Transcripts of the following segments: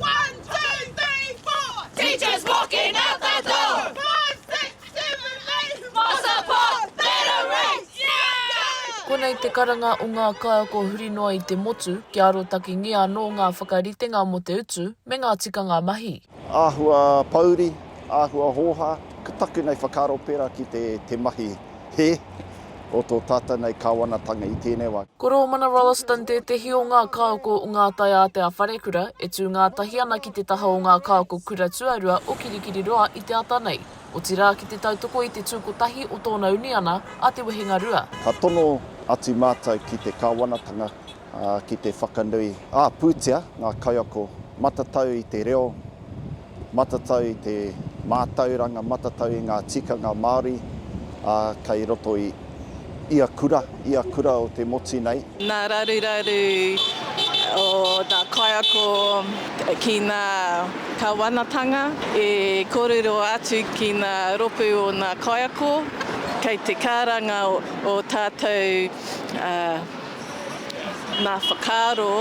One, two, three, four! Teachers walking out the door! Five, six, seven, eight! More support, better rates! Yeah! Konei te karanga o ngā kaiako huri noa i te motu, kia arotakengia anō ngā whakaritenga mō te utu me ngā tikanga mahi. Āhua pouri, āhua hōhā, ka taku nei whakaaro pērā ki te mahi hē. o tō tātou nei Kāwanatanga i tēnei wā. Ko Rōmana Rolleston tētehi o ngā kāoko o ngā taiātea wharekura e tū ngātahi ana ki te taha o ngā kāoko kura tuarua o Kirikiriroa i te ata nei, otirā ki te tautoko i te tū kotahi o tōna uniana a Te Wehenga Rua. Ka tono atu mātou ki te Kāwanatanga ki te whakanui, ā, pūtea ngā kaiako matatau i te reo, Matatau i te mātauranga, matatau i ngā tikanga Māori kei roto i ia kura, ia kura o te motu nei. Ngā raruraru o ngā kaiako ki ngā Kāwanatanga e kōrero atu ki ngā rōpū o ngā kaiako kei te kāranga o tātou Ngā whakaaro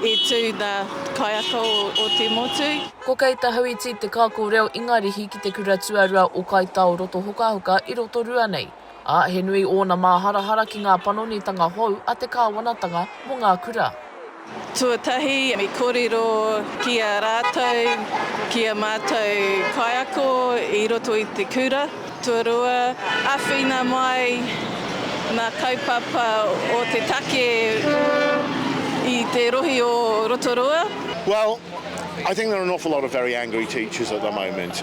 i tū nā te kaiako o te motu. Ko Kei Tahauiti te kāko reo Ingarihi ki te kura tuarua o Kai Tao Rotohokahoka i Rotorua nei, ā, he nui ōna māharahara ki ngā panonitanga hou a te kāwanatanga mō ngā kura. Tuatahi, i kōrero ki a rātou, ki a mātou kaiako i roto i te kura. Tuarua, āwhina mai ngā kaupapa o te take i te rohe o Rotorua. Well, I think there are an awful lot of very angry teachers at the moment.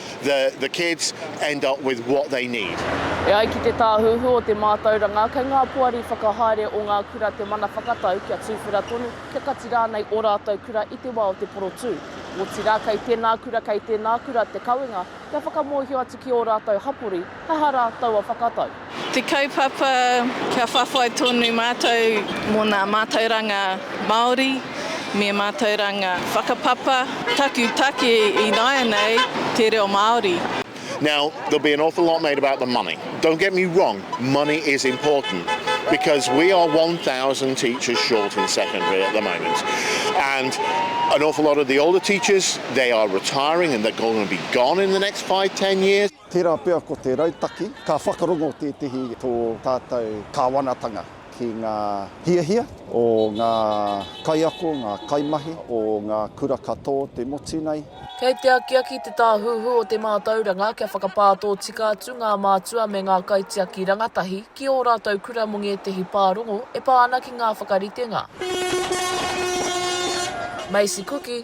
the, the kids end up with what they need. E ai ki te Tāhuhu o te Mātauranga, kei ngā poari whakahaere o ngā kura te mana whakatau kia tuwhera tonu, kia kati rānei ō rātou kura i te wā o te porotū. Otirā, kei tēnā kura, kei tēnā kura te kawenga kia whakamōhio atu ki ō rātou hapori, Kaha rā taua whakatau? Te kaupapa kia whawhai tonu mātou mō nā mātauranga Māori me mātauranga whakapapa taku take ināianei te reo Māori. Now there'll be an awful lot made about the money. Don't get me wrong, money is important because we are one thousand teachers short in secondary at the moment and an awful lot of the older teachers, they are retiring and they're going to be gone in the next five, ten years. Tērā pea ko te rautaki ka whakarongo tētehi tō tātou Kāwanatanga ki ngā hiahia o ngā kaiako, ngā kaimahi o ngā kura ka tō te motu nei. Kei te akiaki te Tāhuhu o te Mātauranga kia whakapā tōtika atu ngā mātua me ngā kaitiaki rangatahi ki ō rātou kura mō ngētehi pārongo e pā ana ki ngā whakaritenga Macy Kuki,